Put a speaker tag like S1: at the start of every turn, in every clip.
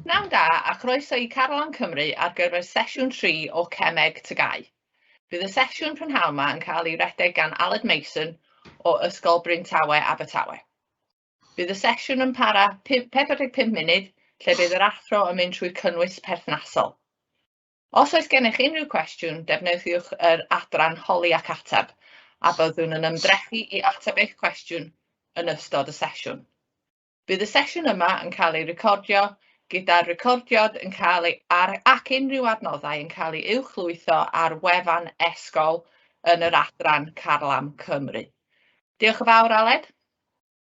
S1: Pnawn da a chroeso i Carlam Cymru ar gyfer sesiwn 3 o Cemeg Tygau. Bydd y sesiwn prynhawn yma yn cael ei redeg gan Aled Mason o Ysgol Bryn Tawe, Abertawe. Bydd y sesiwn yn para 45 munud lle bydd yr athro yn mynd trwy cynnwys perthnasol. Os oes gennych unrhyw cwestiwn, defnyddiwch yr adran Holi ac Ateb a byddwn yn ymdrechu i ateb eich cwestiwn yn ystod y sesiwn. Bydd y sesiwn yma yn cael ei recordio, gyda'r recordiad yn cael ei ar ac unrhyw adnoddau yn cael ei uwchlwytho ar wefan esgol yn yr adran Carlam Cymru. Diolch yn fawr, Aled.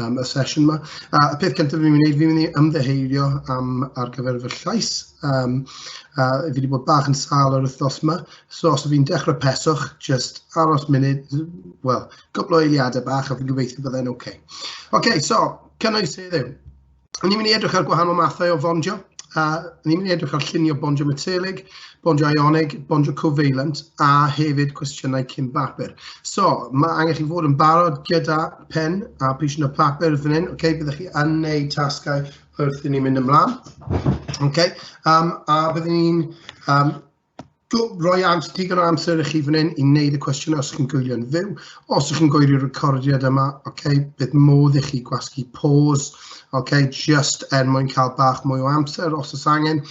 S2: am y sesiwn yma. A y peth cyntaf fi'n mynd i wneud, fi'n mynd i ymddeheurio am ar gyfer fy llais. Um, a fi wedi bod bach yn sal yr wythnos yma, so os fi'n dechrau peswch, just aros munud, wel, cwpl o eiliadau bach a fi'n gobeithio byddai'n oce. Okay. Oce, okay, so, cynnwys heddiw. Ond ni'n mynd i edrych ar gwahanol mathau o fondio, a ni'n mynd i edrych ar llunio bondio metelig, bondio ionig, bondio covalent, a hefyd cwestiynau cyn bapur. So, mae angen chi fod yn barod gyda pen a pisiwn y papur fan hyn, okay? byddwch chi yn neud tasgau wrth i ni mynd ymlaen. Okay? Um, a byddwn ni'n um, roi ams, digon o amser i chi fan hyn i wneud y cwestiynau os chi'n gwylio'n fyw. Os ydych chi'n gwylio'r recordiad yma, okay, bydd modd i chi gwasgu pause, okay, just er mwyn cael bach mwy o amser os oes angen,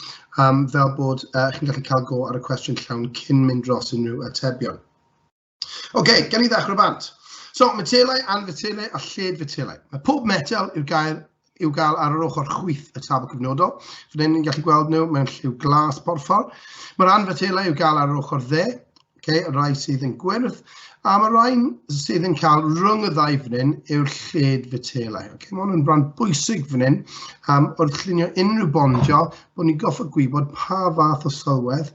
S2: um, fel bod uh, chi'n gallu cael go ar y cwestiwn llawn cyn mynd dros unrhyw atebion. OK, gen i ddechrau bant. So, metelau, anfetelau a lled-fetelau. Mae pob metel i'w gael, i'w gael ar yr ochr chwyth y tabl cyfnodol. Fydde ni'n gallu gweld nhw mewn lliw glas porffor. Mae'r anfetelau i'w gael ar yr ochr dde, okay, y rai sydd yn gwyrdd, a mae'r rai sydd yn cael rhwng y ddau fynyn yw'r lled-fetelau. Okay, mae hwn yn rhan bwysig fynyn um, wrth llunio unrhyw bondio bod ni'n gorfod gwybod pa fath o sylwedd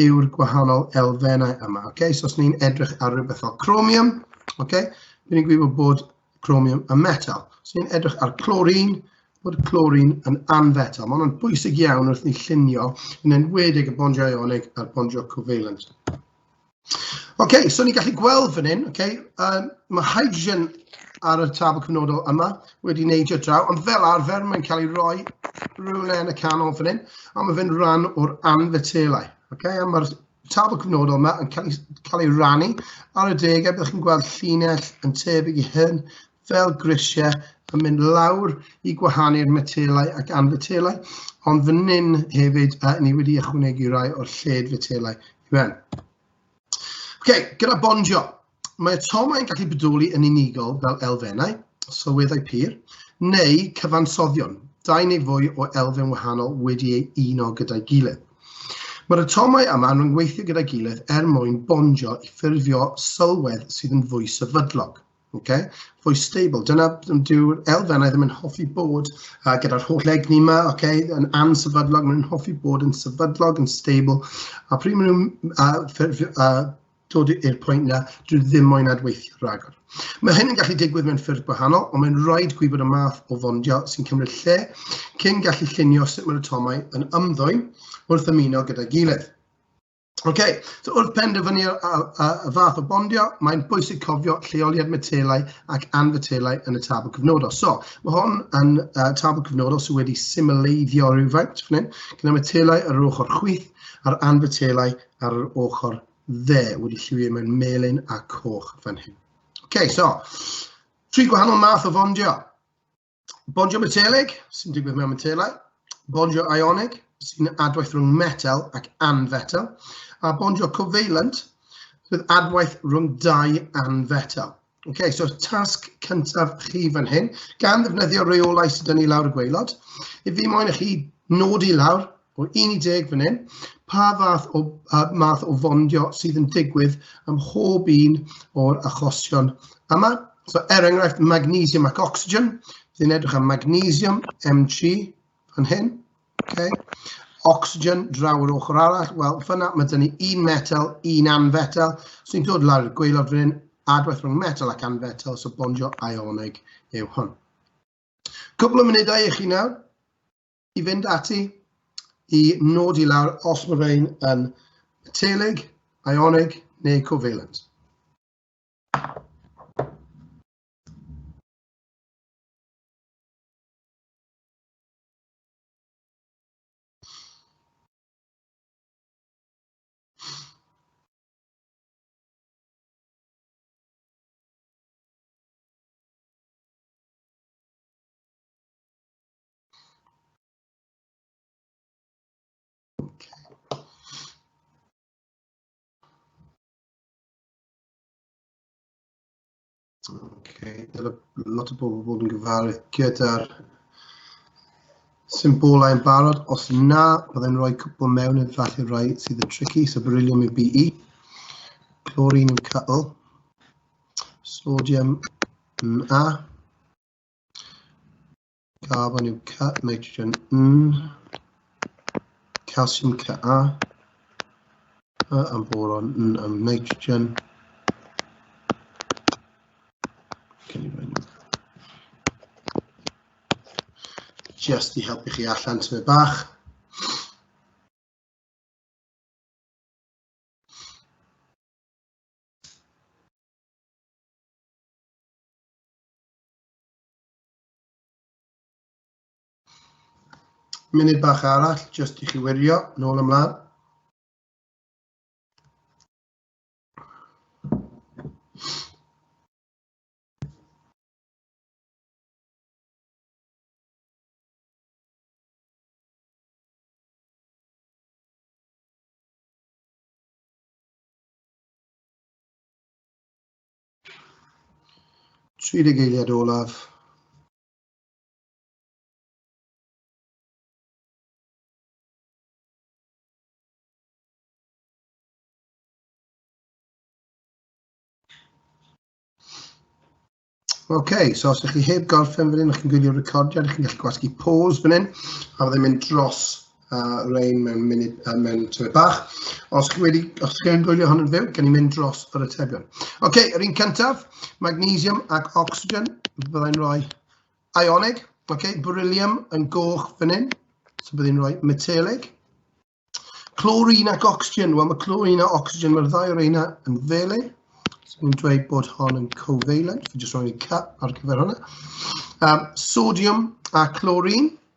S2: yw'r gwahanol elfennau yma. Okay? So os ni'n edrych ar rhywbeth fel chromium, okay, rydyn ni'n gwybod bod chromium yn metal. Os ni'n edrych ar clorin, bod clorin yn anfetal. Mae hwnna'n bwysig iawn wrth ni llunio yn enwedig y bondiau ionig a'r bondiau covalent. Ok, so ni'n gallu gweld fan hyn, ok, yym ma' hydrogen ar y tabl cyfnodol yma wedi neidio draw, ond fel arfer mae'n cael ei roi rywle yn y canol fan hyn, a ma' fe'n ran o'r anfetelau, ok, a ma'r tabl cyfnodol yma yn cael ei cael ei rannu ar y degau, byddwch chi'n gweld llinell yn tebyg i hyn fel grisiau yn mynd lawr i gwahanu'r metelau ac anfetelau, ond fan hyn hefyd, yy ni wedi ychwanegu rai o'r lled-fetelau Amen. OK, gyda bondio. Mae tomau yn gallu bodoli yn unigol fel elfennau, sylweddau pur, neu cyfansoddion, dau neu fwy o elfen wahanol wedi ei uno gyda'i gilydd. Mae'r atomau yma yn gweithio gyda'i gilydd er mwyn bondio i ffurfio sylwedd sydd yn fwy sefydlog. Ok, voice stable. Dyna dyw'r elfennau ddim yn hoffi bod uh, gyda'r holl egni yma, ok, yn ansefydlog, maen nhw'n hoffi bod yn sefydlog, yn stable, a pryd maen nhw'n uh, uh, dod i'r pwynt na, dwi ddim moyn adweithio rhagor. Mae hyn yn gallu digwydd mewn ffyrdd gwahanol, ond mae'n rhaid gwybod y math o fondio sy'n cymryd lle cyn gallu llunio sut mae'r atomau yn ymddwyn wrth ymuno gyda'i gilydd. OK, so wrth penderfynu y fath o bondio, mae'n bwysig cofio lleoliad metelau ac anfetelau yn y tabl cyfnodol. So, mae hon yn uh, tabl cyfnodol sydd wedi symleiddio rhywfaint fan hyn, gyda metelau ar yr ochr chwith a'r anfetelau ar yr ochr dde wedi lliwio mewn melyn a coch fan hyn. OK, so, tri gwahanol math o fondio. Bondio metelig, sy'n digwydd mewn metelau. Bondio ionig, sy'n adwaith rhwng metel ac anfetel. A bondio covalent, sydd adwaith rhwng dau anfetel. OK, so tasg cyntaf chi fan hyn, gan ddefnyddio reolau sydd dyn ni lawr y gweilod, i fi moyn i chi nodi lawr O 11 fan hyn, pa fath o, uh, math o fondio sydd yn digwydd ym mhob un o'r achosion yma. So, er enghraifft, magnesium ac oxygen, Dwi'n edrych am magnesium, Mg, yn hyn. Okay. Oxygen, draw yr ochr arall. Wel, fyna mae dyn ni un metal, un anfetal. So ni'n dod lawr i'r gweilod fan hyn, adwaith rhwng metal ac anfetal, so bondio ionig yw hwn. Cwbl o munudau i chi nawr. i fynd ati i nodi lawr os mae rhain yn metelig, ionig neu covalent. Okay, dyna lot o bobl bod yn gyfarwydd gyda'r symbolau yn barod. Os na, byddai'n rhoi cwpl mewn yn falle rai sydd yn tricky, so beryllium yw BE, chlorine yw cyl, sodium Na. Carbon yw Ca, nitrogen N, calsiwm Ca, a am boron N am nitrogen. Just i helpu chi allan tyfu bach. Munud bach arall, jyst i chi wirio, nôl ymlaen. 30 eiliad olaf. OK, so os ydych chi heb gorffen fan hyn, ydych chi'n gwylio recordiad, ydych chi'n gallu gwasgu pause fan hyn, a fydde'n mynd dros a Rain mewn munud, a mewn tyfu bach. Os chi wedi, os chi yn gwylio hon yn fyw, gen i mynd dros yr atebion. Oce, okay, yr un cyntaf, magnesium ac oxygen, byddai'n rhoi ionig. Oce, okay, beryllium yn goch fan hyn, so byddai'n rhoi metelig. Clorin ac oxygen, wel mae clorin a oxygen, mae'r ddau o'r eina yn fele. So ni'n dweud bod hon yn covalent, fi jyst rhoi cut ar gyfer hwnna. Um, sodium a clorin,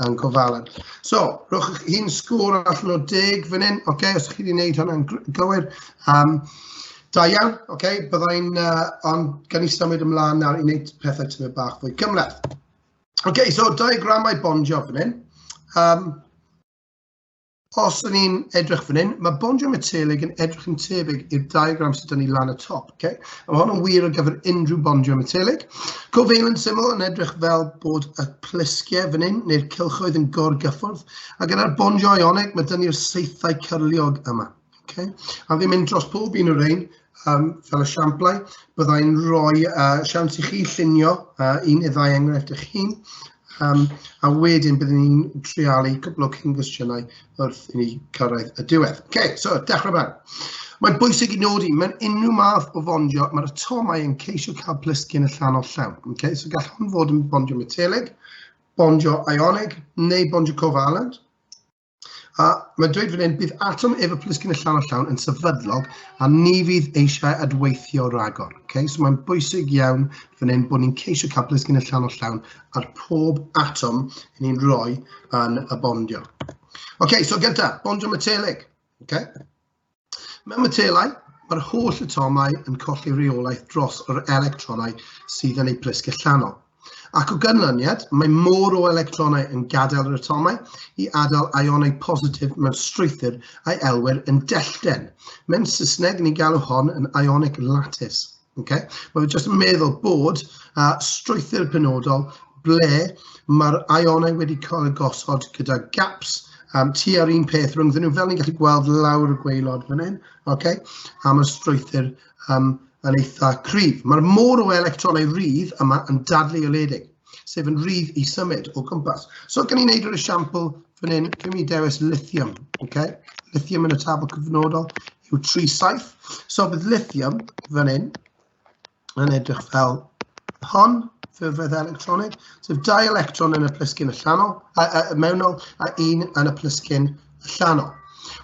S2: Yn gofalad. So, rhowch chi un sgôr allan o deg fan hyn, oce, okay, os chi wedi gwneud hwnna'n gywir. Um, da iawn, oce, okay, byddai'n, uh, ond gan i symud ymlaen nawr i wneud pethau tyfu bach fwy cymleth. Oce, okay, so diagramau bondio fan hyn. Um, Os ydyn ni'n edrych fan hyn, mae bondio metelig yn edrych yn tebyg i'r diagram sydd ydyn ni lan y top. Okay? Mae hwn yn wir ar gyfer unrhyw bondio metelig. Covalent syml yn edrych fel bod y plisgiau fan hyn, neu'r cylchoedd yn gorgyffwrdd, a gyda'r bondio ionig, mae dyn ni'r seithau cyrliog yma. Okay. A fi'n mynd dros pob un o'r rhain um, fel esiamplau. Byddai'n rhoi uh, siawns i chi llunio uh, un neu ddau enghraifft eich hun, um, a wedyn byddwn ni'n trialu cwbl o cyn gwestiynau wrth i ni cyrraedd y diwedd. Okay, so dechrau fan. Mae'n bwysig i nodi, mae'n unrhyw math o fondio, mae'r atomau yn ceisio cael plisgyn y llan o llawn. Okay, so gall hwn fod yn bondio metelig, bondio ionig neu bondio covalent. A mae'n dweud fan hyn, bydd atom ef y plisgyn y llawn a llawn yn sefydlog a ni fydd eisiau adweithio ragor. Okay? So mae'n bwysig iawn fan hyn bod ni'n ceisio cael plisgyn y llawn a llawn ar pob atom yn ni'n rhoi yn y bondio. OK, so gyntaf, bondio metelig. Okay? Mewn matelau, mae'r holl atomau yn colli reolaeth dros yr electronau sydd yn eu plisg allanol. Ac o ganlyniad, mae môr o electronau yn gadael yr atomau i adael ionau positif mewn strwythur a'i elwir yn dellten. Mewn Saesneg, ni'n galw hon yn ionic lattice. Ocê, wel fi jyst yn meddwl bod yy strwythur penodol ble ma'r aeonau wedi cael eu gosod gyda gaps yym tua'r un peth rhyngddyn nhw, fel ni'n gallu gweld lawr y gwaelod fan hyn, ocê, a ma'r strwythur yym yn eitha cryf. Ma'r môr o electronau rydd yma yn dadleoliedig, sef yn rydd i symud o gwmpas. So gawn ni wneud yr esiampl fan hyn, gawn ni dewis lithium, ocê, lithium yn y tabl cyfnodol, yw tri saith. So bydd lithium fan hyn yn edrych fel hon, ffurfedd electronig, sef dau electron yn y plisgyn allanol, a, a, a mewnol, a un yn y plisgyn allanol.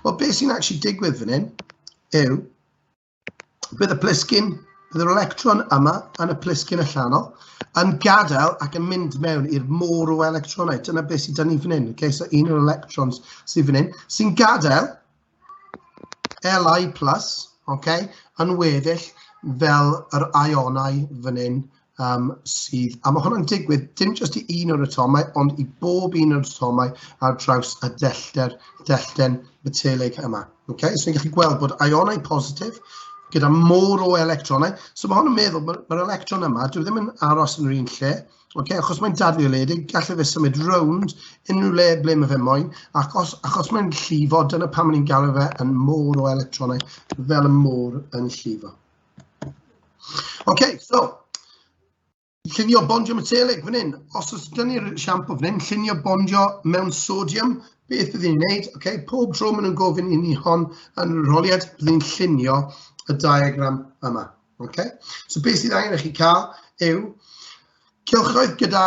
S2: Wel, beth sy'n actually digwydd fan hyn yw, bydd y plisgyn, bydd yr electron yma yn y plisgyn allanol, yn gadael ac yn mynd mewn i'r môr o electronau. Dyna beth sydd dan ni fan hyn. Okay? So un o'r electrons sydd fan hyn, sy'n gadael Li+, okay, yn weddill fel yr ionau fan hyn um, sydd, a mae hwnna'n digwydd dim jyst i un o'r atomau, ond i bob un o'r atomau ar draws y dellter, dellten metelig yma. Okay? So ni'n gallu gweld bod ionau positif gyda môr o electronau. So mae hwn yn meddwl, mae'r ma electron yma, dwi e ddim yn aros yn yr un lle, Ok, achos mae'n dadfeoledig, gallai fe symud rownd unrhyw le ble mae fe moyn, ac os, achos mae'n llifo, dyna pan mae'n galw fe yn môr o electronau, fel y môr yn llifo. Ok, so, llunio bondio metelig fan hyn. Os oes gen i'r siampo fan hyn, llunio bondio mewn sodium, beth bydd ni'n neud? Ok, pob tro maen nhw'n gofyn i ni hon yn rholiad, bydd ni'n llunio y diagram yma. Ok, so beth sydd angen i chi cael yw cylchoedd gyda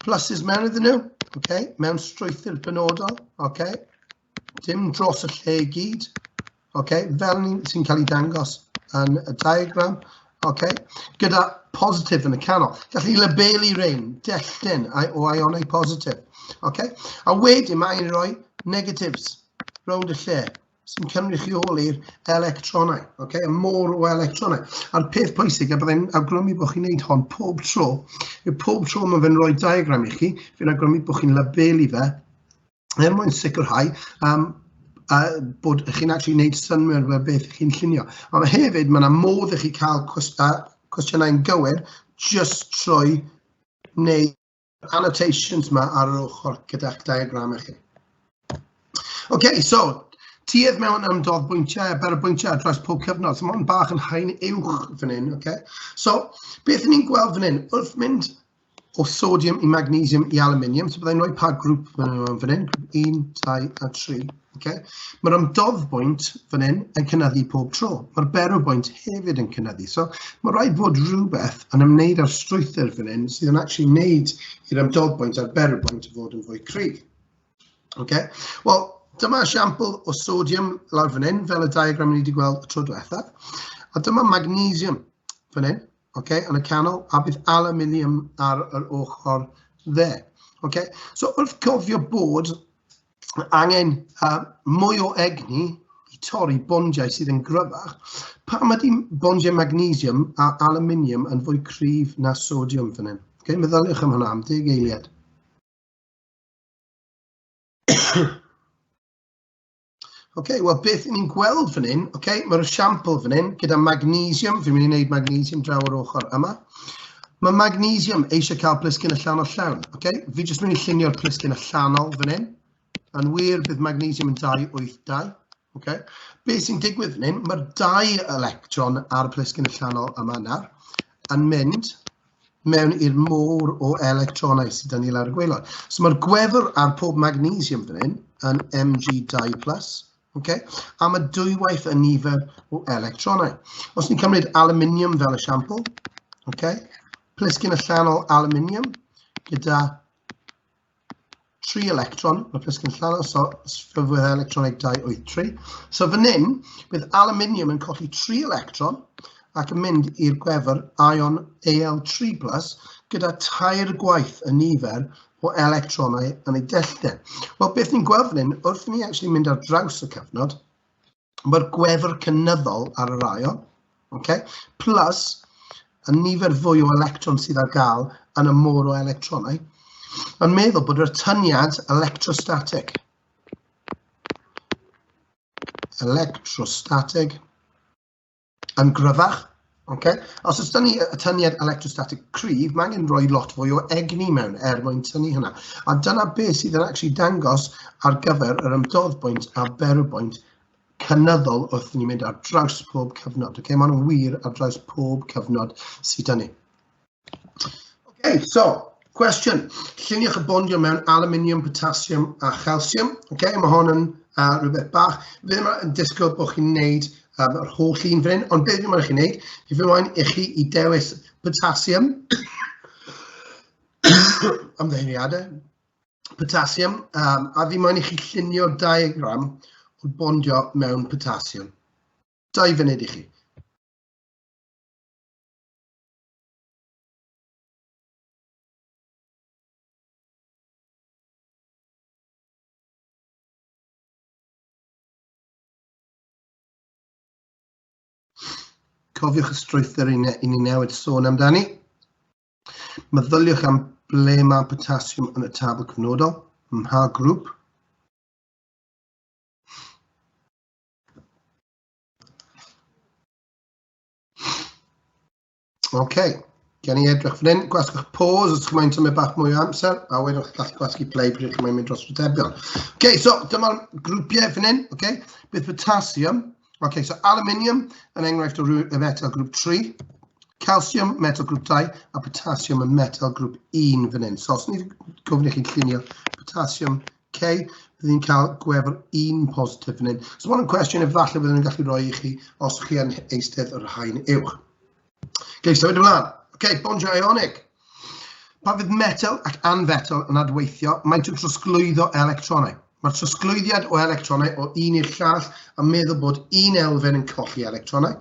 S2: pluses mewn iddyn nhw, okay, mewn strwythur benodol, okay, dim dros y lle i gyd, okay, fel ni sy'n cael ei dangos yn y diagram, okay, gyda positif yn y canol. Gallwn ni labelu rhain, dellten o ionau positif. Okay? A wedyn mae'n rhoi negatives rownd y lle. sy'n cynrychioli'r electronau, okay? y môr o electronau. A'r peth pwysig, a byddai'n awgrymu bod chi'n neud hon pob tro, yw pob tro mae fe'n rhoi diagram i chi, fi'n awgrymu bod chi'n labelu fe, er mwyn sicrhau um, a bod chi'n actually neud synwyr fe beth chi'n llunio. Ond hefyd, mae yna modd i chi cael cwestiynau'n gywir just trwy wneud annotations ma ar yr ochr gyda'ch diagram chi. OK, so, tuedd mewn am dodd bwyntiau a ber bwyntiau ar draws pob cyfnod, so mae'n bach yn hain uwch fan hyn, OK? So, beth ni'n gweld fan hyn, wrth mynd o sodium i magnesium i aluminium, so byddai'n rhoi pa grŵp fan hyn, fan hyn, 1, 2 a 3. Okay? Mae'r ymdodd bwynt fan hyn yn cynnyddu pob tro. Mae'r berw bwynt hefyd yn cynnyddu. So mae rhaid bod rhywbeth yn ymwneud â'r strwythyr fan hyn sydd yn actually wneud i'r ymdodd bwynt a'r berw bwynt fod yn fwy cryf. Okay? Wel, dyma esiampl o sodium lawr fan hyn, fel y diagram ni wedi gweld y tro diwethaf. A dyma magnesium fan hyn, okay, yn y canol, a bydd aluminium ar yr ochr dde. Okay? So wrth cofio bod Mae angen uh, mwy o egni i torri bondiau sydd yn gryfach. Pam ydy bondiau magnesium a aluminium yn fwy cryf na sodium fan hyn? Okay, meddyliwch am hwnna am deg eiliad. okay, wel beth ni'n gweld fan hyn, okay, mae'r esiampl fan hyn gyda magnesium, fi'n mynd i wneud magnesium draw o'r ochr yma. Mae magnesium eisiau cael plisgyn allanol llawn. Okay? Fi jyst mynd i llunio'r plisgyn allanol fan hyn. Yn wir, bydd magnesium yn 282. Okay? Be sy'n digwydd fan hyn, mae'r dau electron ar y plisgyn allanol yma nawr yn mynd mewn i'r môr o electronau sydd yn ni lawr y gweilod. So mae'r gwefr ar pob magnesium fan hyn yn Mg2+, Okay? A mae dwywaith y nifer o electronau. Os ni'n cymryd aluminium fel esiampl, okay? plisgyn allanol aluminium gyda tri electron, mae plisgyn allanol, so sfyfwydd electroneg 283. So fan hyn, bydd aluminium yn colli tri electron ac yn mynd i'r gwefr ion Al3+, gyda tair gwaith y nifer o electronau yn ei dellten. Wel, beth ni'n gweld fan hyn, wrth ni actually mynd ar draws y cyfnod, mae'r gwefr cynyddol ar yr aion, okay? plus y nifer fwy o electron sydd ar gael yn y môr o electronau, yn meddwl bod yr tyniad electrostatic, electrostatic, yn gryfach. Okay? Os ydyn ni y tyniad electrostatic cryf, mae angen rhoi lot fwy o egni mewn er mwyn tynnu hynna. A dyna beth sydd yn actually dangos ar gyfer yr ymdoddbwynt a berwbwynt cynyddol wrth ni'n mynd ar draws pob cyfnod. Okay? Maen nhw'n wir ar draws pob cyfnod sydd dyn ni. Okay, so, cwestiwn. Lluniwch y bondio mewn aluminium, potassium a chalsiwm. Okay, mae hon yn uh, rhywbeth bach. Fe ddim yn disgwyl bod chi'n neud um, yr holl un fan hyn, ond beth yw'n chi'n neud, i fy moyn i chi i dewis potassium, ymddeiriadau, potassium, um, a fi moyn i chi llunio diagram o bondio mewn potassium. Dau funud i chi. cofiwch y strwythur i ni newid sôn amdani. Meddyliwch am ble mae potassiwm yn y tabl cyfnodol, mha grŵp. OK, gen i edrych fan hyn, gwasgwch pause os chi'n tymau bach mwy o amser, a wedyn chi'n gallu gwasgu play pryd chi'n mynd dros rhytebion. OK, so dyma'r grwpiau fan hyn, OK, bydd potassium, OK, so aluminium yn enghraifft o y metal grŵp 3, calcium metal grŵp 2, a potassium yn metal grŵp 1 fan hyn. So os ni'n gofyn i chi'n llunio potassium Okay, bydd ni'n cael gwefr un positif yn hyn. So mae'n cwestiwn if falle byddwn ni'n gallu rhoi i chi os chi yn eistedd yr hain uwch. Okay, symud ymlaen. Okay, bonds ionic. Pa fydd metal ac anfetal yn adweithio, maent yn trosglwyddo electronau. Mae'r trosglwyddiad o electronau o un i'r llall a meddwl bod un elfen yn colli electronau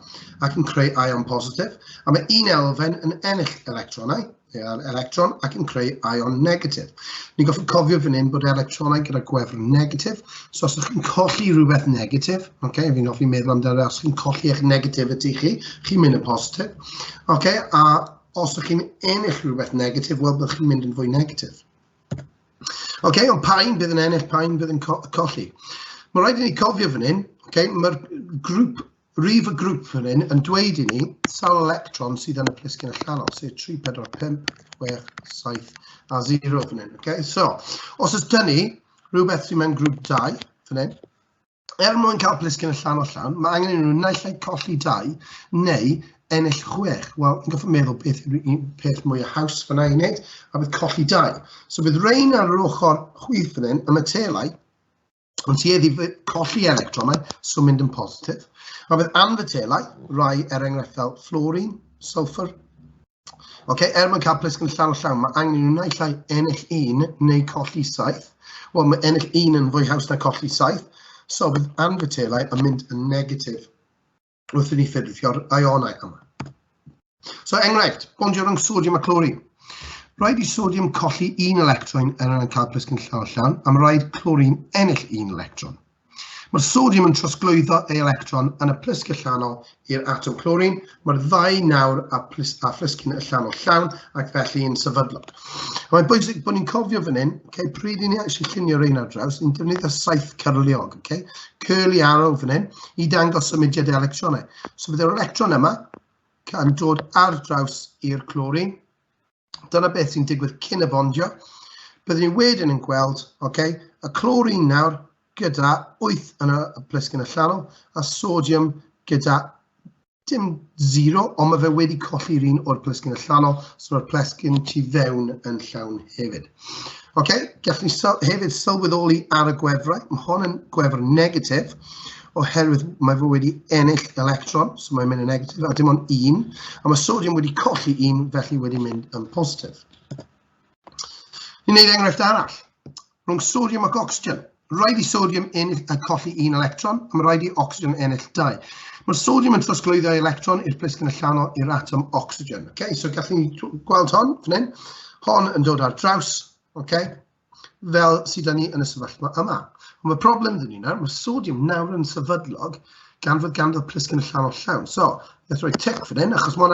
S2: ac yn creu ion positif, a mae un elfen yn ennill electronau. ar electron ac yn creu ion negatif. Ni'n goffi cofio fan hyn bod electronau gyda gwefr negatif, so os ydych chi'n colli rhywbeth negatif, okay, fi'n goffi meddwl amdano os chi'n colli eich negativity chi, chi'n mynd y positif, okay, a os ydych chi'n ennill rhywbeth negatif, wel byddwch chi'n mynd yn fwy negatif. Okay, ond pa'n bydd yn ennill, pa'n bydd yn co colli. Mae rhaid i ni cofio fan hyn, okay, mae'r grŵp Rwyf y grŵp fan hyn yn dweud i ni, sawl electron sydd yn y plisgyn allanol, sef 3, 4, 5, 6, 7 a 0 fan hyn. Okay? So, os oes dyn ni rhywbeth sy'n mewn grŵp 2 fan hyn, er mwyn cael plisgyn allanol llawn, mae angen i nhw naill ai colli 2 neu ennill 6. Wel, yn goffa meddwl beth yw'r un peth mwy o haws fyna i wneud, a bydd colli dau. So bydd rein ar yr ochr chwith fan hyn, y metelau, Ond tuedd i colli electronau, so mynd yn positif. Mae bydd anfytelau, rai er enghraifftau fluorine, sulfur. Okay, er mwyn cael plisgyn llawn o llawn, mae angen nhw naill ai ennill un neu colli saith. Wel, mae ennill un yn fwy haws na colli saith, so bydd anfytelau yn mynd yn negatif. wrth i ni ffurfio'r ionau yma. So enghraifft, bondio rhwng sodium a chlorine. Rhaid i sodium colli un electron er yn cael plisgyn llawn llawn, am rhaid chlorine ennill un electron. Mae'r sodium yn trosglwyddo ei electron yn y plisg allanol i'r atom clorin. Mae'r ddau nawr a, plis, a phlisgyn allanol llawn ac felly yn sefydlog. Mae'n bwysig bod ni'n cofio fan hyn, okay, pryd i ni eisiau llunio rhain ar draws, ni'n defnyddio saith cyrliog. Okay? curly arrow fan hyn i dangos symudiad y electronau. So bydd yr electron yma yn dod ar draws i'r clorin. Dyna beth sy'n digwydd cyn y bondio. Byddwn ni wedyn yn gweld okay, y clorin nawr gyda 8 yn y plisgyn allanol a sodium gyda Dim zero, ond mae fe wedi colli un o'r plesgyn allanol, so mae'r plesgyn tu fewn yn llawn hefyd. Oce, okay, gallwn ni syl hefyd sylweddoli ar y gwefrau, mae hon yn gwefr negatif, oherwydd mae fe wedi ennill electron, so mae'n mynd yn negatif, a dim ond un, a mae sodium wedi colli un, felly wedi mynd yn positif. Ni'n gwneud enghraifft arall. Rhwng sodiwm ac ocsigen. Rhaid i sodiwm ennill a colli un electron, a mae rhaid i ocsigen ennill dau. Mae'r sodiwm yn trosglwyddo electron i'r plisgyn allanol i'r atom ocsigen. Okay, so gallen ni gweld hon fan hyn. Hon yn dod ar draws, okay, fel sydd da ni yn y sefyllfa yma. Ond mae problem dyn ni nawr, mae sodiwm nawr yn sefydlog gan fod ganddo plisgyn allanol llawn. So, let's roi tic fan hyn, achos mae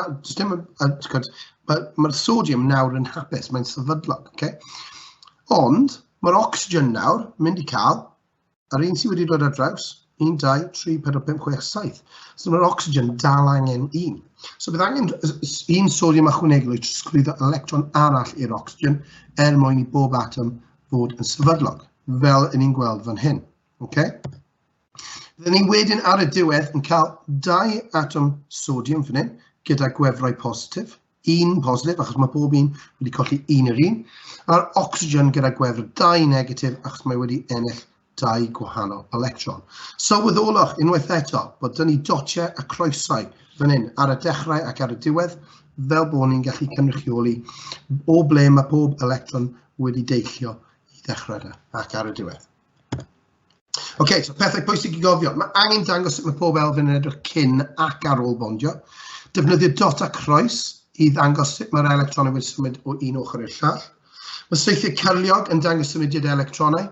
S2: mae'r sodiwm nawr yn hapus, mae'n sefydlog. Okay? Ond mae'r ocsigen nawr yn mynd i cael yr un sydd wedi dod ar draws, 1, 2, 3, 4, 5, 6, 7. So mae'r ocsigen dal angen un. So bydd angen un sodium ychwanegol i trosglwyddo electron arall i'r ocsigen er mwyn i bob atom fod yn sefydlog, fel yn ni'n gweld fan hyn. Okay? Byddwn ni wedyn ar y diwedd yn cael dau atom sodium fan hyn gyda gwefrau positif, un positif achos mae pob un wedi colli un yr un, a'r oxygen gyda gwefr dau negatif achos mae wedi ennill dau gwahanol electron. Sylweddolwch unwaith eto bod dyn ni dotiau a croesau fan hyn ar y dechrau ac ar y diwedd fel bod ni'n gallu cynrychioli o ble mae pob electron wedi deillio i ddechrau da ac ar y diwedd. Ok, so pethau pwysig i gofio. Mae angen dangos sut mae pob elfen yn edrych cyn ac ar ôl bondio. Defnyddio dot a croes i ddangos sut mae'r electronau wedi symud o un ochr i'r llall. Mae seithiau cyrliog yn dangos symudiad electronau.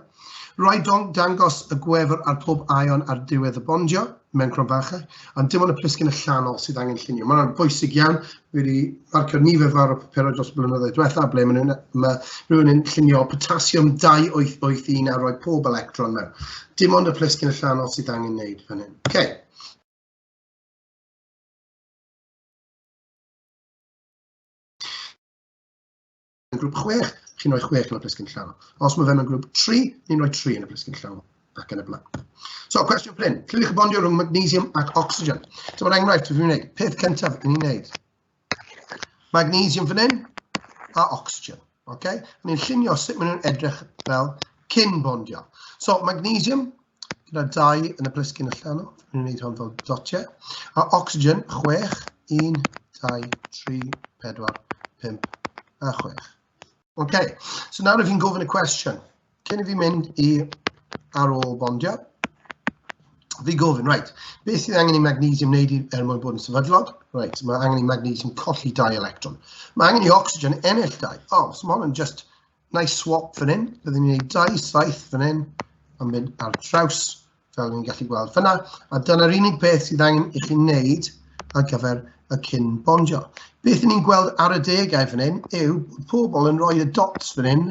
S2: Rai dong dangos y gwefr ar pob aion ar diwedd y bondio mewn cronfachau, ond dim ond y plisgyn allanol sydd angen llunio. Mae'n bwysig iawn, Dwi 'di marcio nifer fawr o papurau dros y blynyddoedd diwethaf ble maen nhw'n... ma' rhywun yn llunio potasiwm 288 a rhoi pob electron mewn. Dim ond y plisgyn allanol sydd angen wneud fan hyn. Ok. mewn grŵp 6, chi'n rhoi 6 yn y plisgyn llawn. Os mae fe mewn grŵp 3, ni'n rhoi 3 yn y plisgyn llawn ac yn y blaen. So, cwestiwn pryn. Llywch chi bondio rhwng magnesium ac oxygen? So, mae'r enghraifft dwi'n gwneud. Peth cyntaf yn ei wneud. Magnesium fan hyn a oxygen. Okay? Ni'n llunio sut maen nhw'n edrych fel cyn bondio. So, magnesium, gyda 2 yn y plisgyn allan. Fi'n gwneud hwn fel dotiau. A oxygen, 6, 1, 2, 3, 4, 5 a 6. OK, so nawr i fi'n gofyn y cwestiwn. Cyn i fi mynd i ar ôl bondio, fi gofyn, right, beth sydd angen i magnesium wneud er mwyn bod yn sefydlog? Right, mae angen i magnesium colli dau electron. Mae angen i oxygen ennill dau. Oh, so mae hwn yn just Na i swap fan hyn, byddwn ni'n gwneud dau saith fan hyn, a mynd ar draws, fel ni'n gallu gweld fyna. A dyna'r unig beth sydd angen i chi wneud ar gyfer y cyn bondio. Beth ni'n gweld ar y degau fan hyn yw pobl yn rhoi y dots fan hyn,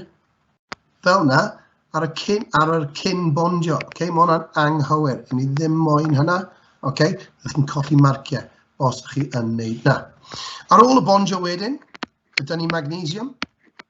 S2: fel yna, ar y cyn, ar y cyn bondio. Okay? Mae hwnna'n anghywir, i ni ddim moyn hynna. Okay? Ydych chi'n colli marciau os ydych chi yn wneud na. Ar ôl y bondio wedyn, gyda ni magnesium,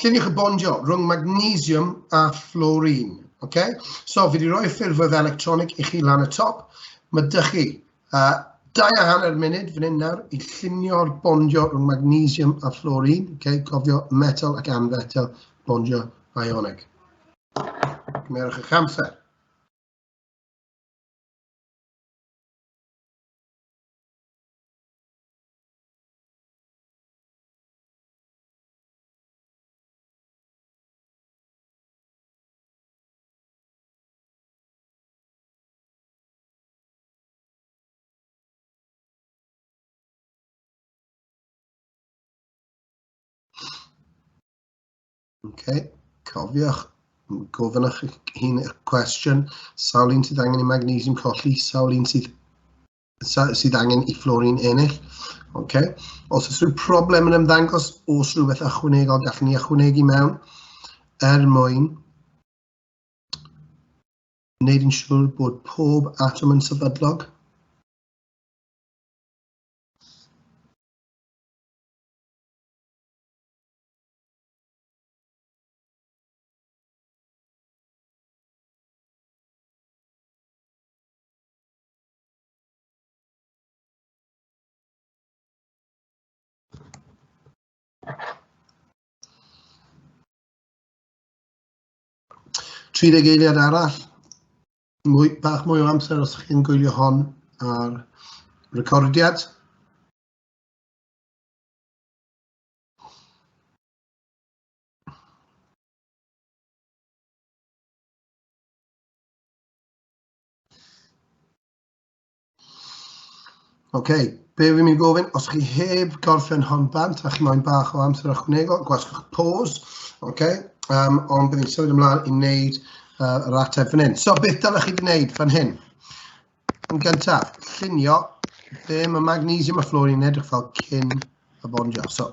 S2: Lluniwch y bondio rhwng magnesium a fluorine. Okay? So, fi wedi rhoi ffurfwedd electronig i chi lan y top. Mae dych chi uh, dau a hanner munud fan hyn nawr i llunio'r bondio rhwng magnesium a fluorine. Okay? Cofio metal ac anfetal bondio ionig. Cymerwch eich amser. Ocê, cofiwch gofyn eich hun y cwestiwn, sawl un sydd angen i magnesiwm colli, sawl un sydd sydd angen i Florin ennill. Okay. Os oes rhyw problem yn ymddangos, os rhywbeth ychwanegol gallwn ni ychwanegu mewn er mwyn wneud yn siŵr bod pob atom yn sefydlog. 30 eiliad arall, mwy, bach mwy o amser os chi'n gwylio hon ar recordiad. Oce, okay. be fi'n mynd gofyn, os chi heb gorffen hon bant a chi moyn bach o amser ychwanegol, gwasgwch pause, oce, okay. um, ond bydd i'n symud ymlaen i wneud uh, yr ateb fan hyn. So, beth dylech chi wneud fan hyn? Yn gyntaf, llunio be mae magnesium a fluorine yn edrych fel cyn y bondio. So,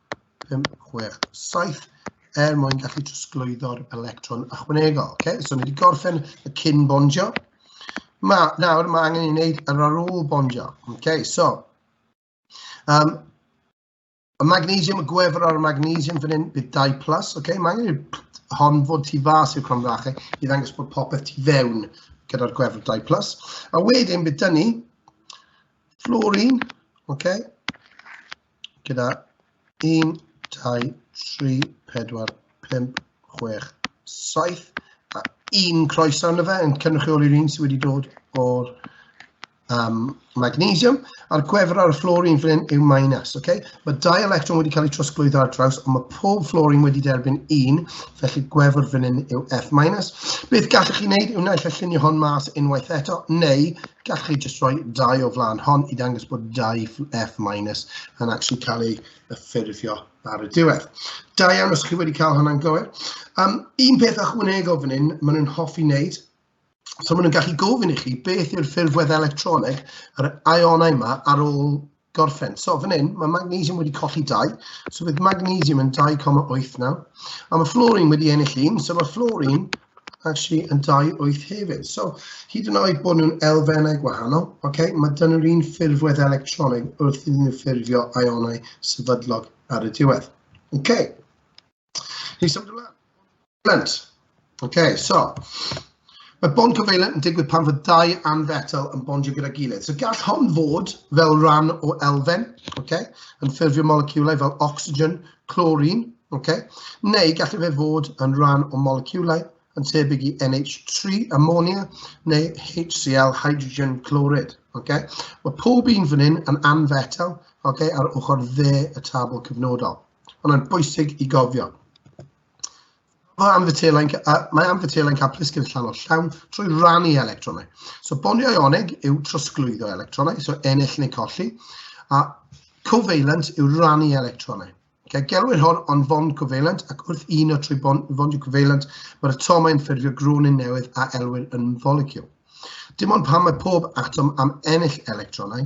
S2: 5, 6, 7, er mwyn gallu trosglwyddo'r electron ychwanegol. Okay? So, ni wedi gorffen y cyn bondio. Ma, nawr, mae angen i wneud yr ar ôl bondio. Okay? So, um, y magnesium, y gwefr ar y magnesium fan hyn, bydd 2 plus. Okay? Mae angen i'r hon fod tu fas i'r cromdrachau i ddangos bod popeth tu fewn gyda'r gwefr 2 plus. A wedyn bydd dynnu fluorine, okay? gyda 1, 2, 3, 4, 5, 6, 7 a un croeso arno fe yn cynrychioli'r un sydd wedi dod o'r um, magnesium, a'r gwefr ar y fluorine fan hyn yw minus. Okay? Mae dau electron wedi cael eu trosglwyddo ar draws, ond mae pob fluorine wedi derbyn un, Felly gwefr fan hyn yw F-. Beth gallwch chi wneud yw naill y llunio hon mas unwaith eto, neu gallwch chi jyst rhoi dau o flaen hon i ddangos bod dau F- yn actually cael ei ffurfio ar y diwedd. Da iawn os chi wedi cael hwnna'n gywir. Um, un peth ychwanegol fan hyn, maen nhw'n hoffi wneud, So maen nhw'n gallu gofyn i chi beth yw'r ffurf wedd electroneg yr ionau yma ar ôl gorffen. So fan hyn, mae magnesium wedi colli 2, so bydd magnesium yn 2,8 nawr. A mae fluorine wedi ennill un, so mae fluorine actually yn 2,8 hefyd. So hyd yn oed bod nhw'n elfennau gwahanol, okay, mae dyn nhw'r un ffurfwedd electroneg wrth iddyn nhw ffurfio ionau sefydlog ar y diwedd. Okay. Ni symud ymlaen. Lent. OK, so. Mae bond covalent yn digwydd pan fod dau anfetal yn bondio gyda'i gilydd. So gall hon fod fel rhan o elfen, okay, yn ffurfio moleciwlau fel oxygen, chlorine, okay, neu gall fe fod yn rhan o moleciwlau yn tebyg i NH3, ammonia, neu HCl, hydrogen chlorid. Okay? Mae pob un fan hyn yn anfetal okay, ar ochr dde y tabl cyfnodol. Ond mae'n bwysig i gofio. Mae anfytelau'n mae anfytelau'n cael plisgyn llan o llawn trwy rannu electronau. So bonio ioneg yw trosglwyddo electronau, so ennill neu colli, a covalent yw rannu electronau. Okay, gelwir hon o'n fond covalent ac wrth un o trwy bond, fondiau covalent mae'r atomau yn ffurfio gronyn newydd a elwir yn molecule. Dim ond pan mae pob atom am ennill electronau,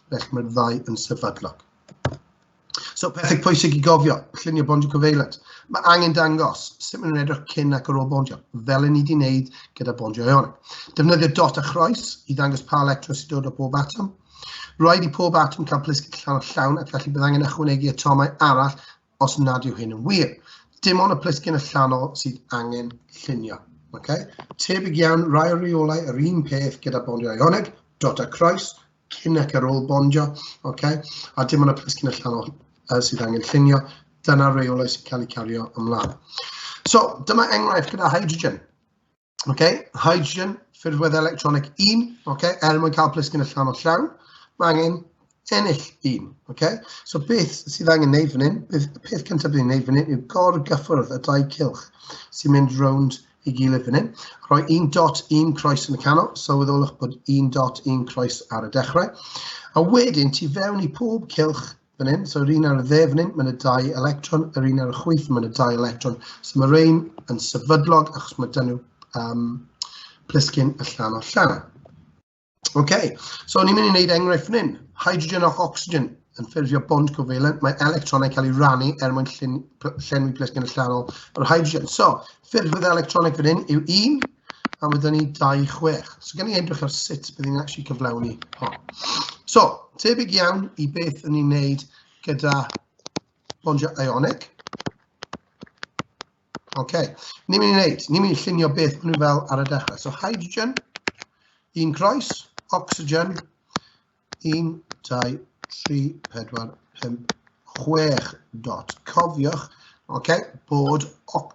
S2: Felly mae'r ddau yn sefydlog. So pethau pwysig i gofio, llunio bondio cyfeiliant. Mae angen dangos sut maen nhw'n edrych cyn ac ar ôl bondio, fel yn ni wedi wneud gyda bondio eon. Defnyddio dot a chroes i ddangos pa electron sy'n dod o bob atom. Rhaid i pob atom cael plisgyn llawn o llawn ac felly bydd angen ychwanegu atomau arall os nad yw hyn yn wir. Dim ond y plisgyn allanol sydd angen llunio. Okay? Tebyg iawn, rai o reolau yr un peth gyda bondio ioneg, dot a croes, cyn ac ar ôl bondio, okay? a dim ond y plisgyn allanol uh, sydd angen llunio, dyna reolau sy'n cael eu cario ymlaen. So, dyma enghraifft gyda hydrogen. Okay? Hydrogen, ffurfwedd electronig 1, okay? er mwyn cael plisgyn allanol llawn, mae angen ennill un. Okay? So beth sydd angen neud fan hyn, beth, peth cyntaf bydd ni'n neud fan hyn yw gor-gyffwrdd y dau cilch sy'n mynd rownd i gilydd fan hyn. Rhoi un dot, un croes yn y canol, sylweddolwch bod un dot, un croes ar y dechrau. A wedyn, ti fewn i pob cilch fan hyn, so yr un ar y dde fan hyn, mae'n y dau electron, yr un ar y chwyth, mae'n y dau electron. So mae rhain yn sefydlog achos mae dyn nhw um, plisgyn allan o llan. OK, so ni'n mynd i wneud enghraifft fan hyn. Hydrogen ac oxygen yn ffurfio bond covalent. Mae electronau cael ei rannu er mwyn llun, llenwi plesgen allanol yr hydrogen. So, ffurfiodd electroneg fan hyn yw 1, a mae ni 26. So, gen i edrych ar sut bydd ni'n actually cyflawni hon. So, tebyg iawn i beth yn ni'n wneud gyda bondiau ionic. OK. Ni'n mynd i wneud, ni'n mynd i llunio beth maen nhw fel ar y dechrau. So hydrogen, un croes, oxygen, 1, 2, 3, 4, 5, 6 dot. Cofiwch, okay, bod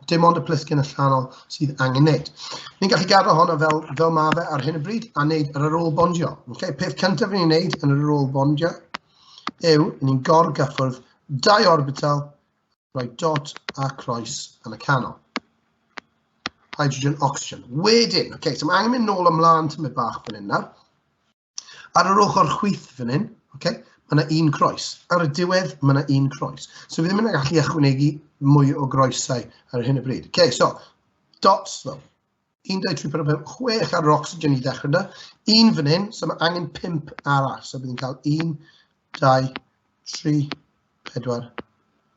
S2: dim ond y plisgyn allanol sydd angen wneud. Ni'n gallu gadw hwnna fel, fel mae fe ar hyn o bryd a wneud yr ôl bondio. Okay, peth cyntaf ni'n wneud yn yr ôl bondio yw ni'n gorgyffwrdd dau orbital Rhoi dot a croes yn y canol. Hydrogen, oxygen. Wedyn, oce, okay, so mae angen mynd nôl ymlaen tymau bach fan hyn nawr. Ar yr ochr chwyth fan hyn, oce, okay, mae yna un croes. Ar y diwedd, mae yna un croes. So fi ddim yn gallu ychwanegu mwy o groesau ar hyn y bryd. OK, so dots though. un dau tri pedwar pump chwech ar yr ocsigen i ddechrau yna. Un fan hyn, so mae angen pump arall. So bydd yn cael un, dau, tri, pedwar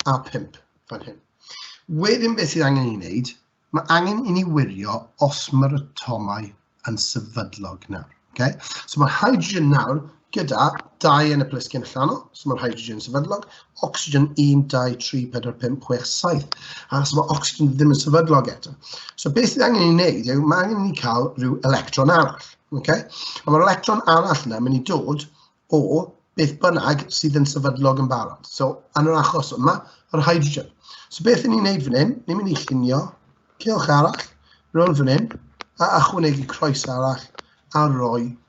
S2: a pump fan hyn. Wedyn beth sydd angen i wneud, mae angen i ni wirio os mae'r atomau yn sefydlog nawr. Okay? So mae hydrogen nawr gyda dau yn y plisgyn allanol, so mae'r hydrogen sefydlog, oxygen 1, 2, 3, 4, 5, 6, 7, a so mae oxygen ddim yn sefydlog eto. So beth sydd angen i wneud yw, mae angen i cael rhyw electron arall. Okay? A mae'r electron arall yna mynd i dod o beth bynnag sydd yn sefydlog yn barod. So, yn yr achos yma, yr hydrogen. So beth ni'n neud fan hyn, ni'n mynd i llunio cilch arall, rhywun fan hyn, a achwanegu croes arall, a roi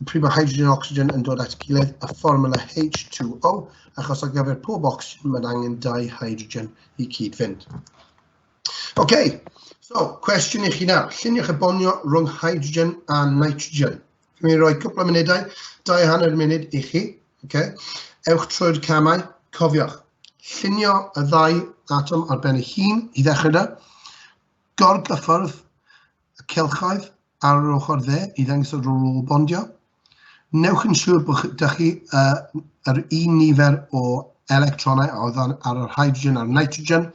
S2: y prif o hydrogen a ocsigen yn dod at gilydd a fformula H2O, achos ar gyfer pob ocsigen mae'n angen dau hydrogen i cyd-fynd. OK, so cwestiwn i chi nawr. Lluniwch y bonio rhwng hydrogen a nitrogen. Dwi'n rhoi cwpl o munudau, dau hanner munud i chi. Okay. Ewch trwy'r camau. Cofiwch, llunio y ddau atom ar ben ei hun i ddechrau da. Gorgyffwrdd y cylchoedd ar yr ochr dde i ddangos y rôl o bondio. Newch yn siŵr bod ydych chi uh, yr un nifer o electronau a oedd ar yr hydrogen a'r nitrogen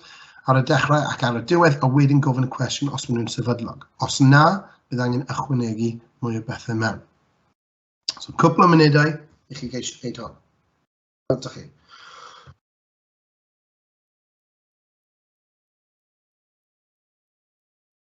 S2: ar y dechrau ac ar y diwedd a wedyn gofyn y cwestiwn os maen nhw'n sefydlog. Os na, bydd angen ychwanegu mwy o bethau mewn. So cwpl o munudau i chi geisio gwneud hon. Gweld chi.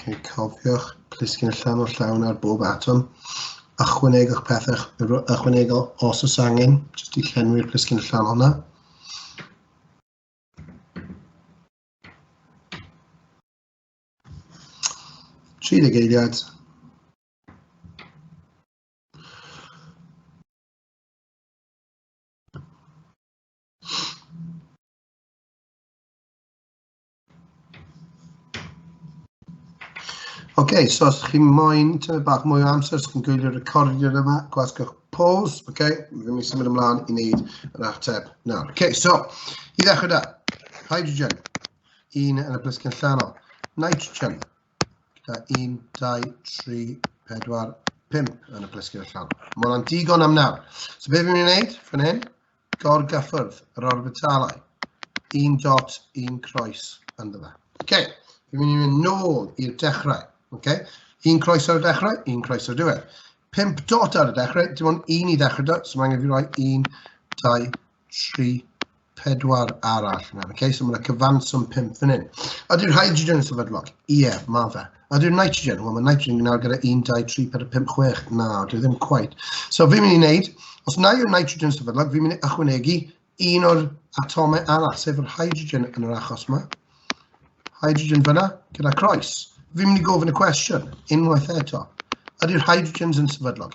S2: Okay, cofiwch, plisgyn y llan o'r llawn ar bob atom. Ychwanegwch pethau ychwanegol os oes angen, jyst i llenwi'r plisgyn y llan hwnna. Tri deg eiliad. Ok, so os chi moyn tyfu bach mwy o amser, os chi'n gwylio recordio yma, gwasgwch pause, ok, ddim i symud ymlaen i wneud yr ateb nawr. Ok, so, i ddechrau da, hydrogen, un yn y blisgyn llanol, nitrogen, gyda 1, 2, 3, 4, 5 yn y blisgyn llanol. Mae hwnna'n digon am nawr. So beth fi'n mynd i wneud fan hyn, gorgyffwrdd yr orbitalau. Un dot, un croes ynddo fe. OK, fi'n mynd i fynd nôl i'r dechrau. OK, un croes ar y dechrau, un croes ar y diwedd. 5 dot ar y dechrau, dim ond un i ddechrau dot, so mae angen fi roi 1, 2, 3, 4 arall. OK, so mae'n cyfanswm 5 fan hyn. Ydy'r hydrogen yn sefydlog? Ie, yeah, mae fe. Ydy'r nitrogen, wel mae nitrogen yn mynd nawr gyda 1, 2, 3, 4, 5, 6, na, dwi ddim quite. So fi'n mynd i wneud, os na yw'r nitrogen sefydlog, fi'n mynd i ychwanegu un o'r atomau arall, sef yr hydrogen yn yr achos yma. Hydrogen fyna, gyda croes. Fi'n mynd i gofyn y cwestiwn, unwaith eto. Ydy'r hydrogens yn sefydlog?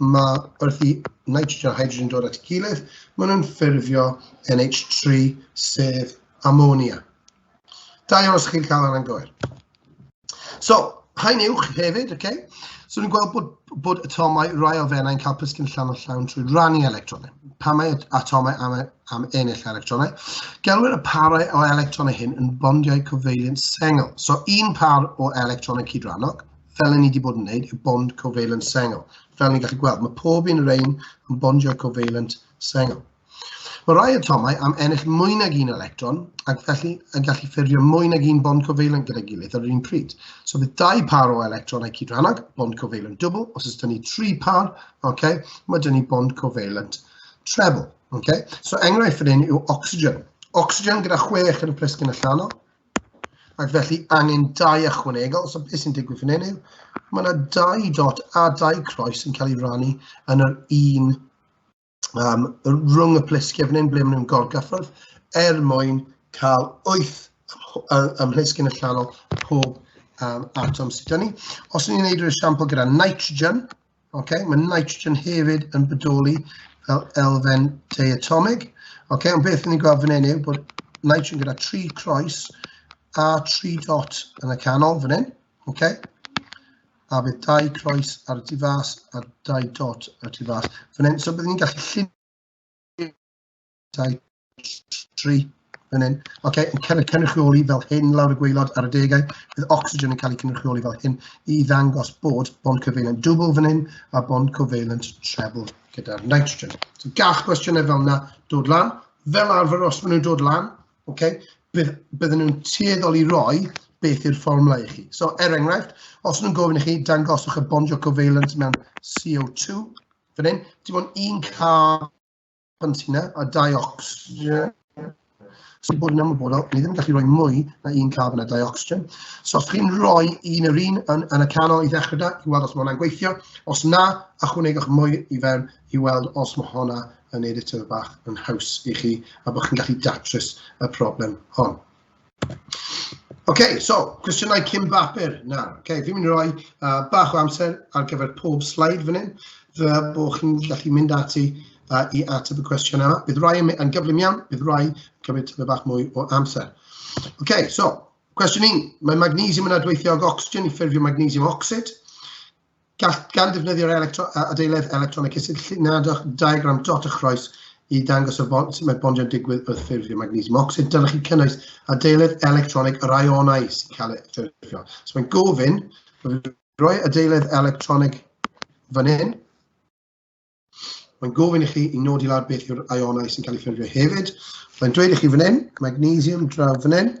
S2: ma' wrth i nitrogen a hydrogen dod at ei gilydd, maen nhw'n ffurfio NH3, sef amonia. Da iawn os chi'n cael hwnna'n gywir. So, haen uwch hefyd, okay? So ni'n gweld bod, bod atomau rai o fenau'n cael plisgyn llan o llawn trwy rannu electronau. Pa mae atomau am, am ennill electronau? Gelwyr y parau o electronau hyn yn bondiau cyfeiliant sengl. So un par o electronau cydrannog, fel y ni wedi bod yn wneud, yw bond covalent sengl. Fel ni'n gallu gweld, mae pob un o'r ein yn bondio covalent sengl. Mae rhai atomau am ennill mwy nag un electron ac felly yn gallu ffurfio mwy nag un bond covalent gyda'i gilydd ar yr un pryd. So bydd dau par o electronau cydrannog, bond covalent dwbl, os ydyn ni tri par, okay, mae dyn ni bond covalent treble. Okay? So enghraifft fan hyn yw oxygen. Oxygen gyda chwech yn y plisgyn allanol, Ac felly angen dau ychwanegol, so beth sy'n digwydd fan hyn yw, mae yna dau dot a dau croes yn cael ei rannu yn yr un um, rhwng y plisgiau fan hyn ble maen nhw'n gorgyffwrdd er mwyn cael wyth ymhlisg yn y llanol pob um, atom sydd gen ni. Os ni'n gwneud yr esiampl gyda nitrogen, Okay? Mae nitrogen hefyd yn bodoli fel elfen diatomig. Okay? Ond beth ni'n gweld fan hyn yw bod nitrogen gyda tri croes a tri dot yn y canol fan hyn. Okay? A bydd dau croes ar y tu fas a dau dot ar y tu fas. Fan hyn, so byddwn ni'n gallu llunio dau, tri, fan hyn. OK, yn cael ei cynrychioli fel hyn lawr y gweilod ar y degau. Bydd oxygen yn cael ei cynrychioli fel hyn i ddangos bod bond covalent dwbl fan hyn a bond covalent treble gyda'r nitrogen. So gall gwestiynau fel yna dod lan. Fel arfer os maen nhw'n dod lan, okay, bydd, bydden nhw'n tueddol i roi beth yw'r fformwla i chi. So, er enghraifft, os nhw'n gofyn i chi dangoswch y bondio covalent mewn CO2, fan hyn, dim ond un carbon Pantina a Diox. Yeah. So i bod yn ymwybodol, ni ddim yn gallu rhoi mwy na un caf yna dioxygen. So os chi'n rhoi un yr un yn, yn y canol i ddechrau da, i weld os mae hwnna'n gweithio. Os na, ychwanegwch mwy i fewn i weld os mae hwnna yn neud y tyf bach yn haws i chi a bod chi'n gallu datrys y problem hon. OK, so, cwestiynau cyn bapur nawr. OK, fi'n mynd i roi uh, bach o amser ar gyfer pob slide fan hyn, fe bod chi'n gallu mynd ati uh, i ateb y cwestiwn yma. Bydd rai yn gyflym iawn, bydd rai yn cymryd tyfu bach mwy o amser. OK, so, cwestiwn un, mae magnesium yn adweithio ag oxygen i ffurfio magnesium oxid. Gall, gan ddefnyddio'r electro, adeiledd electronig cysylltiadwch diagram dot a chroes i ddangos y bond, sut mae bondio'n digwydd wrth ffurfio magnesium ocsid. Dylech chi cynnwys adeiledd electronig yr ionau sy'n cael ei ffurfio. So mae'n gofyn, roi adeiledd electronig fan hyn. Mae'n gofyn i chi i nodi lawr beth yw'r ionau sy'n cael eu ffurfio hefyd. Mae'n dweud i chi fan hyn, magnesium draw fan hyn,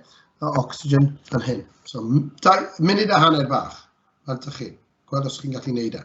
S2: a oxygen fan hyn. So, da, munud a hanner bach, fel ydych chi. Gweld os chi'n gallu gwneud e.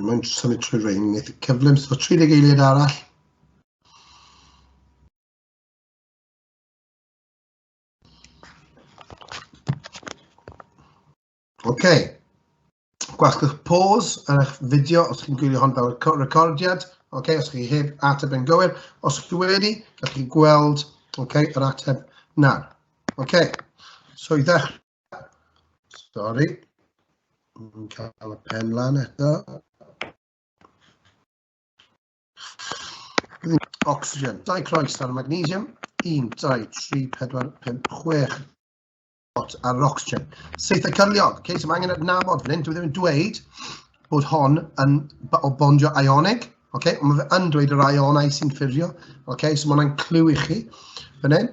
S2: Mae'n symud trwy rein, wneud y cyflym, so 30 eiliad arall. Oce. Okay. Gwasgwch pause ar eich fideo os chi'n gwylio hon fel recordiad. Oce, okay, os chi heb ateb yn gywir. Os chi wedi, gallwch chi gweld okay, yr ateb nawr. Oce, okay. so i ddechrau Sorry. Yn cael y pen lan eto. Oxygen, dau croes ar y magnesium. 1, 2, 3, 4, 5, 6 bot ar yr oxygen. Seithau cyrliog. Okay, so mae angen adnabod fan hyn. Dwi ddim yn dweud bod hon yn o bondio ionig. Okay, ond mae fe yn dweud yr ionau sy'n ffurfio. Okay, so mae hwnna'n clyw i chi fan hyn.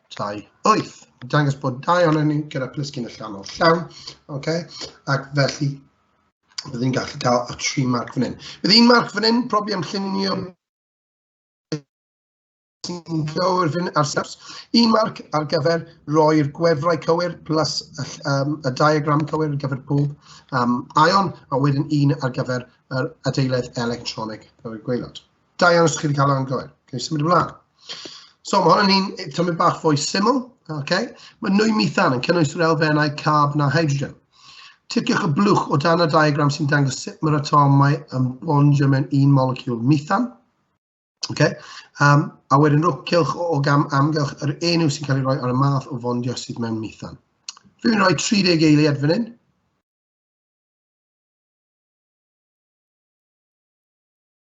S2: 28. Dangos bod dau ohono ni gyda plisgyn allanol llawn. Okay? Ac felly, bydd ni'n gallu cael y tri marc fan hyn. Bydd un marc fan hyn, profi am llunio sy'n cywir fan ar sefs. Un marc ar gyfer roi'r gwefrau cywir plus y, um, y diagram cywir ar gyfer pob um, aion, a wedyn un ar gyfer yr adeiledd electronig ar y gweilod. Da iawn os chi wedi cael o'n gywir. Cyn symud ymlaen. So mae hwn yn un tymed bach fwy syml. Okay. Mae nwy mithan yn cynnwys yr elfennau carb na hydrogen. Ticiwch y blwch o dan y diagram sy'n dangos sut mae'r atomau yn bondio mewn un moleciwl mithan. Okay. Um, a wedyn rwcylch o, o gam amgylch yr enw sy'n cael ei roi ar y math o fondio sydd mewn mithan. Rwy'n rhoi 30 eiliad fan hyn.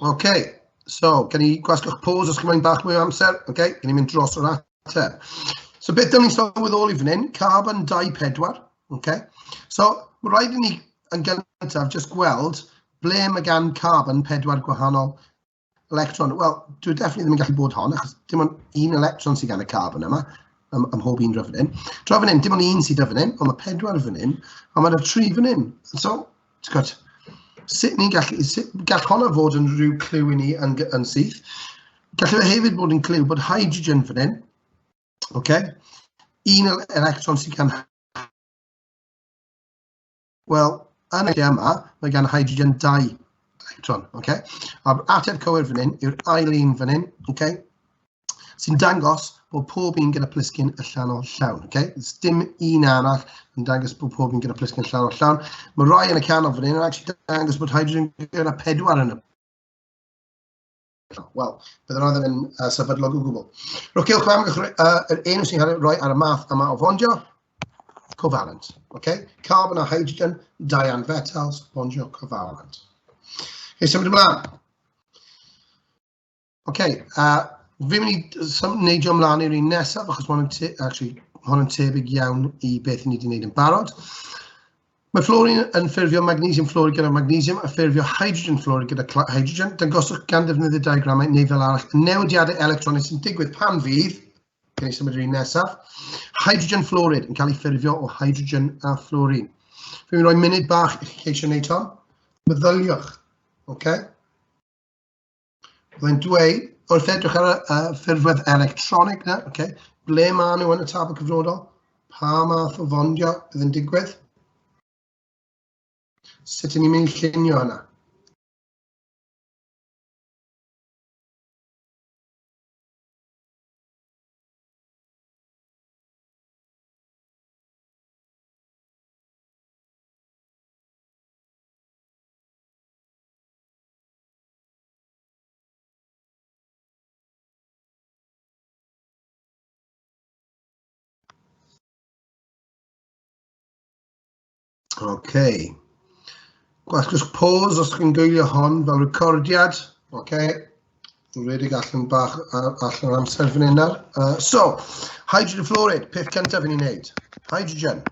S2: Oce, okay. so, gen i gwasgwch pause os gymryd bach mwy o amser. Oce, okay. gen i mynd dros o'r ateb. So, beth dyn ni'n sylweddoli fan hyn? Carbon 24. Oce, okay. so, mae rhaid i ni yn gyntaf just gweld ble mae gan carbon pedwar gwahanol electron. Wel, dwi definitely ddim yn gallu bod hon, achos dim ond un electron sydd gan y carbon yma, ym, ym mhob un rhyfyn hyn. Tra fan hyn, dim ond un sydd dy fan hyn, ond mae pedwar fan hyn, a mae yna tri fan hyn. So, ti'n gwybod, sut ni'n gallu... sut gall honno fod yn rhyw cliw i ni yn g- yn syth. Gallu fe hefyd bod yn cliw bod hydrogen fan hyn, ocê, un el- electron sydd gan... Wel, yn y lle yma, mae gan hydrogen dau electron, ocê. A'r ateb cywir fan hyn yw'r ail un fan hyn, ocê. sy'n dangos bod pob un gyda plisgyn allanol llawn. Okay? Does dim un arall yn dangos bod pob un gyda plisgyn allanol llawn. Mae rhai yn y canol fan hyn yn actually dangos bod hydrogen gyda pedwar yn y Wel, bydd yna ddim yn uh, sefydlog o gwbl. Rwy'n cael chwam uh, yr enw sy'n cael ei roi ar y math yma o fondio, covalent. Okay? Carbon a hydrogen, dian fetals, fondio covalent. Okay, symud ymlaen. Ok, a fi'n mynd i sym- neidio ymlaen i'r un nesaf, achos mae hwn yn te- actually, mae hwn yn tebyg iawn i beth ni wedi gwneud yn barod. Mae fluorine yn ffurfio magnesium fluoride gyda magnesium a ffurfio hydrogen fluoride gyda cla- hydrogen. Dangoswch gan ddefnyddio diagramau neu fel arall y newidiadau electronig sy'n digwydd pan fydd, gen i symud i'r un nesaf, hydrogen fluoride yn cael ei ffurfio o hydrogen a fluorine. Fi'n mynd i roi munud bach i chi ceisio wneud hon. Meddyliwch, ok? Mae'n dweud, wrth edrych ar y uh, ffurfwedd electronig na, okay, ble maen nhw yn y tabl cyfnodol, pa math o fondio bydd yn digwydd, sut ni'n mynd i llunio hynna. Okay. Gwell just pause os chi'n gwylio hon fel recordiad. Okay. Dwi'n redig allan bach allan o'r amser fan hyn nawr. Uh, so, hydrogen fluoride, peth cyntaf yn ei wneud. Hydrogen.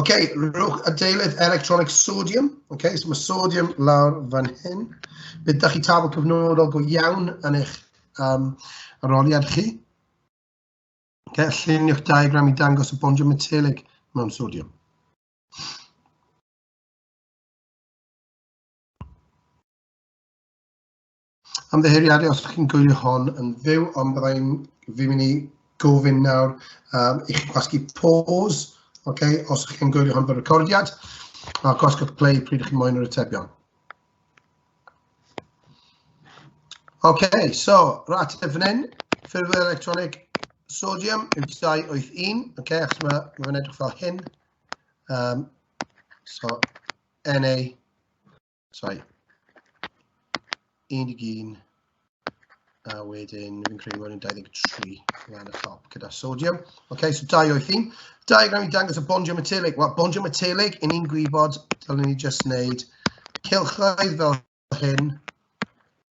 S2: Oce, rhowch adeilydd electronic sodium. Oce, so mae sodium lawr fan hyn. Bydd da chi tabl cyfnodol go iawn yn eich um, aroliad chi. Oce, lluniwch diagram i dangos y bondio metelig mewn sodium. Ymddiheuriadu os ydych chi'n gwylio hon yn fyw, ond byddai i'n fi'n mynd i gofyn nawr um, i chi gwasgu pause, okay, os ydych chi'n gwylio hon fel recordiad, a gwasgu play pryd ydych chi'n moyn yr atebion. Okay, so, rat y fan hyn, ffurfio electronic sodium yw 281, okay, achos mae ma fe'n edrych fel hyn. Um, so, Na Sorry. 11 a wedyn fi'n credu bod yn 23 lan y top gyda sodium. OK, so 2 o'i thyn. Diagram i dangos y bondio metelig. Wel, bondio metelig, yn ni'n gwybod, dylwn ni just wneud cylchoedd fel hyn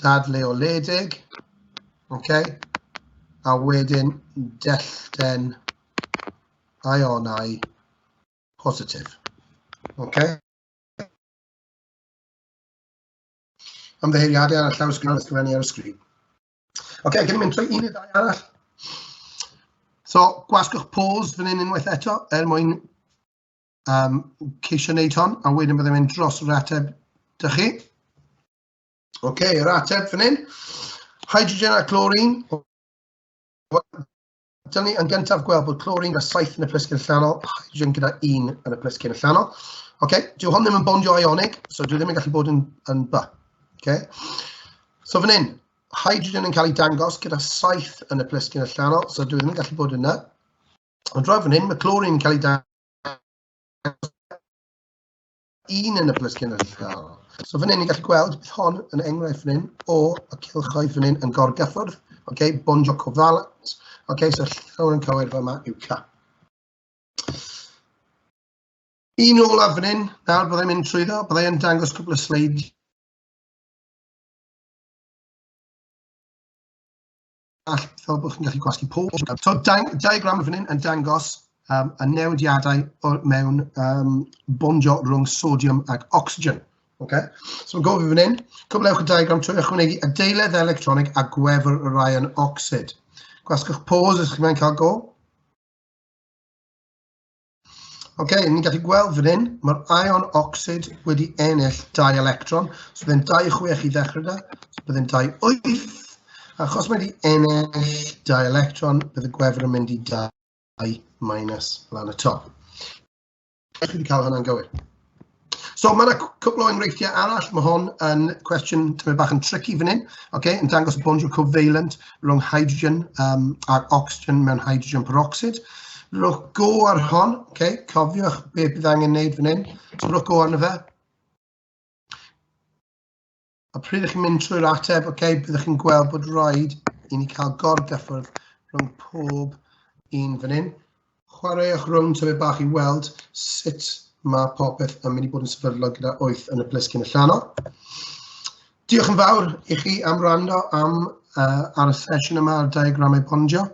S2: dadleoledig, okay? a wedyn dellten ionau positif. Okay? Ymddeheiriadau ar y llawr sgrin, ysgrifennu ar y sgrin. OK, gen i'n mynd trwy un i ddau arall. So, gwasgwch pause fan hyn unwaith eto, er mwyn um, ceisio wneud hon, a wedyn byddai'n mynd dros yr ateb dych chi. OK, yr ateb fan hyn. Hydrogen a chlorine. Dyna ni yn gyntaf gweld bod chlorine gyda saith yn y plisgyn allanol, hydrogen gyda un yn y plisgyn allanol. OK, dyw hwn ddim yn bondio ionic, so dyw ddim yn gallu bod yn, yn by. OK. So fan hyn, hydrogen yn cael ei dangos gyda saith yn y plisgyn allanol, so dyw ddim yn gallu bod yna. Ond rhaid fan hyn, mae chlorine yn cael ei dangos un yn y plus cynrychiol. So fan hyn ni'n gallu gweld, bydd hon yn enghraifft fan hyn o y cilchoedd fan hyn yn gorgyffwrdd, okay, bon joco falant, okay, so llawer yn cywir fel yma yw ca. Un olaf fan hyn, nawr byddai'n mynd trwy ddo, byddai'n dangos cwbl o sleid all, fel bod chi'n gallu gwasgu pob oes. So, diagram fan hyn yn dangos um, y newidiadau mewn um, bondio rhwng sodium ac oxygen. Okay? So mae'n gofio fan hyn, cwblewch y diagram trwy ychwanegu adeiledd electronig a gwefr y rai yn ocsid. Gwasgwch pause ydych chi'n cael go. Ok, ni'n gallu gweld fan hyn, mae'r ion oxyd wedi ennill dau electron. So byddai'n 26 i ddechrau da, so byddai'n 28. Achos mae wedi ennill dau electron, bydd y gwefr yn mynd i 2 minus lan y top. Ydych chi wedi cael hwnna'n gywir? So mae yna cwpl o enghreifftiau arall, mae hon yn cwestiwn tymed bach yn tricky fan hyn, okay, yn dangos bondiwr covalent rhwng hydrogen um, ac oxygen mewn hydrogen peroxid. Rhowch go ar hon, okay, cofiwch be bydd angen wneud fan hyn, so rhowch go arno fe. A pryd ydych chi'n mynd trwy'r ateb, oce, okay, byddwch chi'n gweld bod rhaid i ni cael gorgyffwrdd rhwng pob un fan hyn. Chwaraewch rhwng tyfu bach i weld sut mae popeth yn mynd i bod yn sefydlog gyda 8 yn y plisgyn allanol. Diolch yn fawr i chi am rando am uh, ar y sesiwn yma ar diagramau pondio.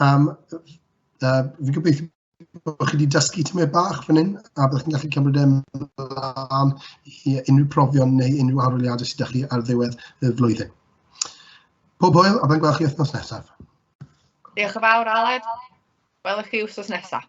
S2: Um, uh, fi gobeithio bod chi wedi dysgu tymau bach fan hyn, a byddwch chi'n gallu cymryd e'n ymlaen i unrhyw profion neu unrhyw arholiadau sydd â chi ar ddiwedd y flwyddyn. Pob hwyl, a byddai'n gweld chi
S1: wythnos nesaf.
S2: Diolch yn
S1: fawr,
S2: Aled. Welwch chi
S1: wythnos
S2: nesaf.